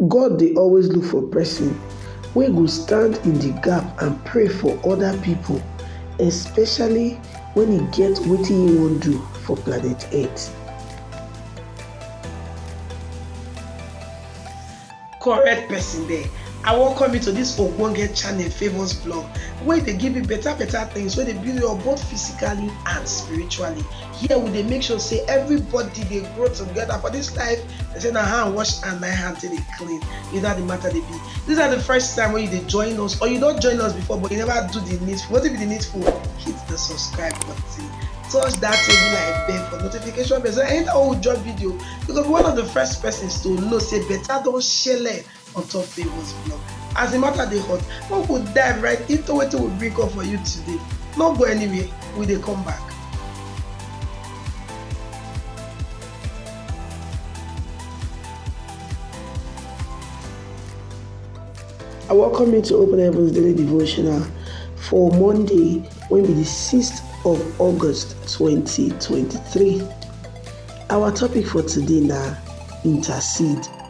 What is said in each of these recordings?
God dey always look for pesin wey go stand in di gap and pray for oda pipo, especially wen e get wetin im wan do for planet Earth. Correct person there, I welcome you to this ogbonge channel Favours Blog wey dey give you better better things wey dey build you up both physically and spiritually. here we dey make sure say everybody dey grow together for this life they say na hand wash and na hand take dey clean you know the matter dey be this na the first time wey you dey join us or you don join us before but you never do the needful wetin be the needful hit the subscribe button touch that table like bell for notification bell so anytime we drop video you go be one of the first persons to know say better don shele on top Favour's blog. As the matter dey hot, we go dive right into wetin we bring come for you today. No go anywhere, we dey come back. I welcome you to Open Heavens Daily Devotional for Monday, when be the 6th of August 2023. Our topic for today now intercede.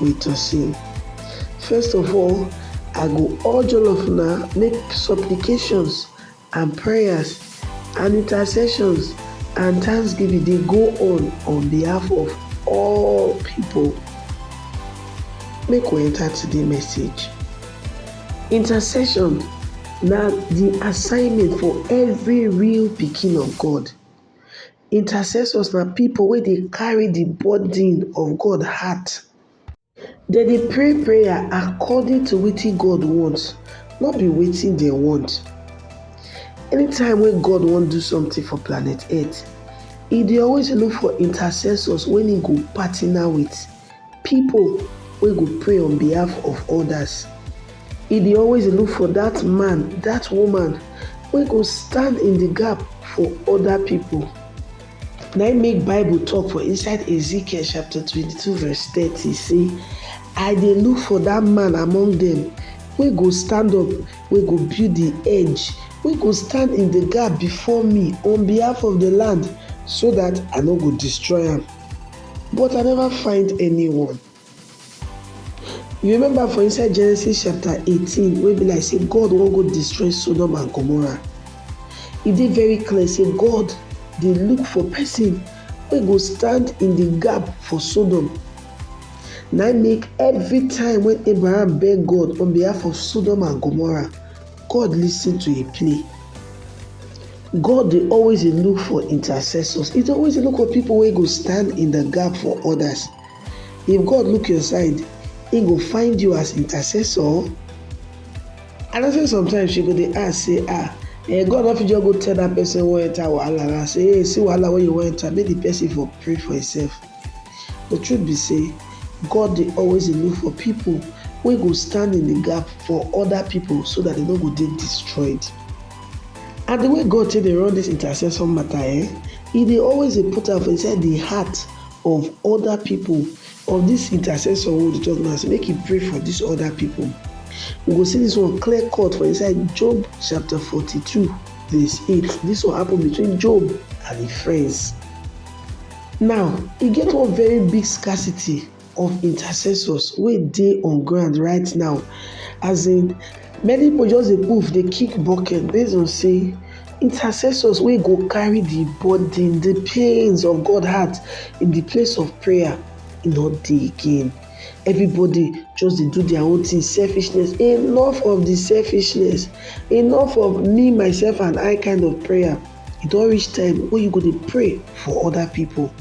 with Tosin. First of all, I go urge all of una make supplications and prayers and intercessions and thanksgiving dey go on on behalf of all people. Make we enter today message. Intercession na the assignment for every real pikin of God. Intercessors na pipo wey dey carry di burden of God heart. Dem dey pray prayer according to wetin God want, no be wetin dem want. Anytime wey God wan do something for planet earth, e dey always look for intercessors wey im go partner with. People wey go pray on behalf of others. He dey always dey look for that man, that woman wey go stand in the gap for other people. Na im make Bible talk for inside Ezekiel chapter 22 verse 30 say, I dey look for that man among them wey go stand up, wey go build the edge, wey go stand in the gap before me on behalf of the land so that I no go destroy am. But I never find anyone. You remember for inside Genesis chapter 18, wey be like say God wan go destroy Sodom and Gomorrah. E dey very clear say God dey look for person wey go stand in the gap for Sodom. Na im make every time when Abraham beg God on behalf of Sodom and Gomorrah, God listen to a plea. God dey always dey look for intercessors. He dey always dey look for people wey go stand in the gap for others. If God look your side, he go find you as intercessor. And I say sometimes you go dey ask say ah eh, God no fit just go tell that person wey wan enter wahala na say hey see wahala wey you wan enter make the person for pray for himself. The truth be say, God dey always dey look for people wey go stand in the gap for other people so that they no go dey destroyed. And the way God take dey run this intercession matter, eh, He dey always dey put am for inside the heart of other people of this intercessor wey we dey talk now say make he pray for these other people. We go see this one clear cut for inside Job chapter 42 verse 8. This one happen between Job and his friends. Now, e get one very big scarcity of intercessors wey dey on ground right now. As in, many pipu just dey move, dey kick bucket base on sey intercessors wey go carry the burden, the pains of God heart in the place of prayer e no dey again. Everybody just dey do their own thing, selfishness, enough of the selfishness, enough of me, myself and I kind of prayer. E don reach time wey you go dey pray for other people.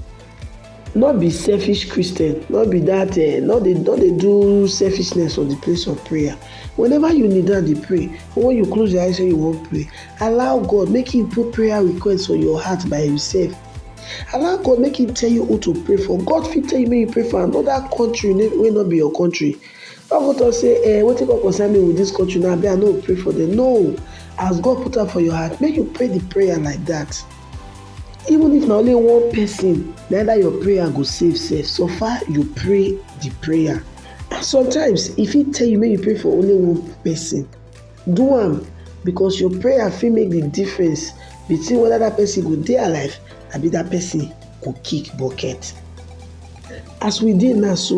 No be selfish Christian, no be that uh, no dey no dey do selfishness for the place of prayer. Whenever you kneel down dey pray, or when you close your eyes when you wan pray, allow God make He put prayer request for your heart by Himself. Allow God make He tell you who to pray for. God fit tell you make you pray for another country wey no be your country. Some pipu talk sey um wetin come concern me with dis country now abi I no go pray for dem. No! As God put am for your heart, make you pray de prayer like dat. Even if na only one person na im dat your prayer go save sef, so far you pray de prayer. Sometimes, e fit tell you make you pray for only one person. Do am because your prayer fit make de difference between whether dat person go dey alive abi dat person go kick bucket. As we dey now so,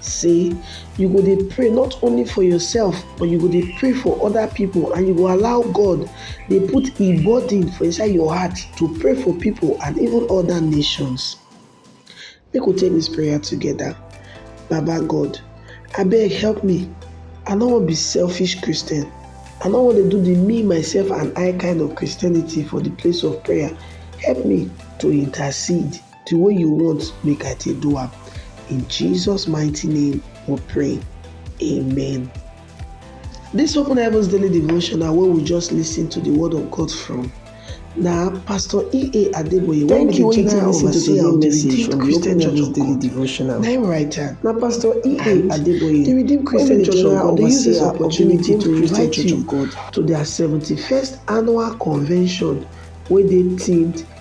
say you go dey pray not only for yourself but you go dey pray for other people and you go allow god dey put a burden for inside your heart to pray for people and even other nations make we take this prayer together baba god abeg help me i no wan be selfish christian i no wan dey do the me myself and i kind of christianity for the place of prayer help me to intercede The way you want make I take do am. In Jesus mighty name we pray. Amen. This Open Heavens Daily Devotion na where we just listen to the word of God from. na pastor ea adeboye wey be di general overseer of di redeemed christian church of god devotional na im write am na pastor ea adeboye di redeemed christian church of god dey use dis opportunity to invite you to their seventy-first annual convention wey dey themed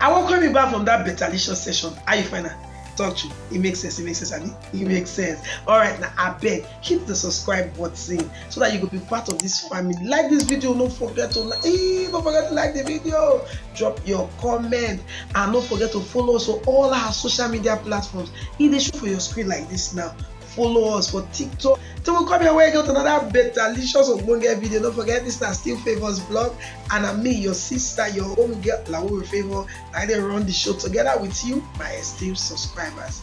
I welcome you back from that betalicious session. How you find am? talk to it makes sense it makes sense abi it makes sense all right now I beg, hit the subscribe button so that you could be part of this family like this video no forget to like hey, eh, don't forget to like the video drop your comment and don't forget to follow us on all our social media platforms e dey show for your screen like this now follow us for tiktok till we come your way again with another better delicious ogbonge video no forget this na still favours blog and na me your sister your home girl lawowe favour na i dey run the show together with you my esteemed subscribers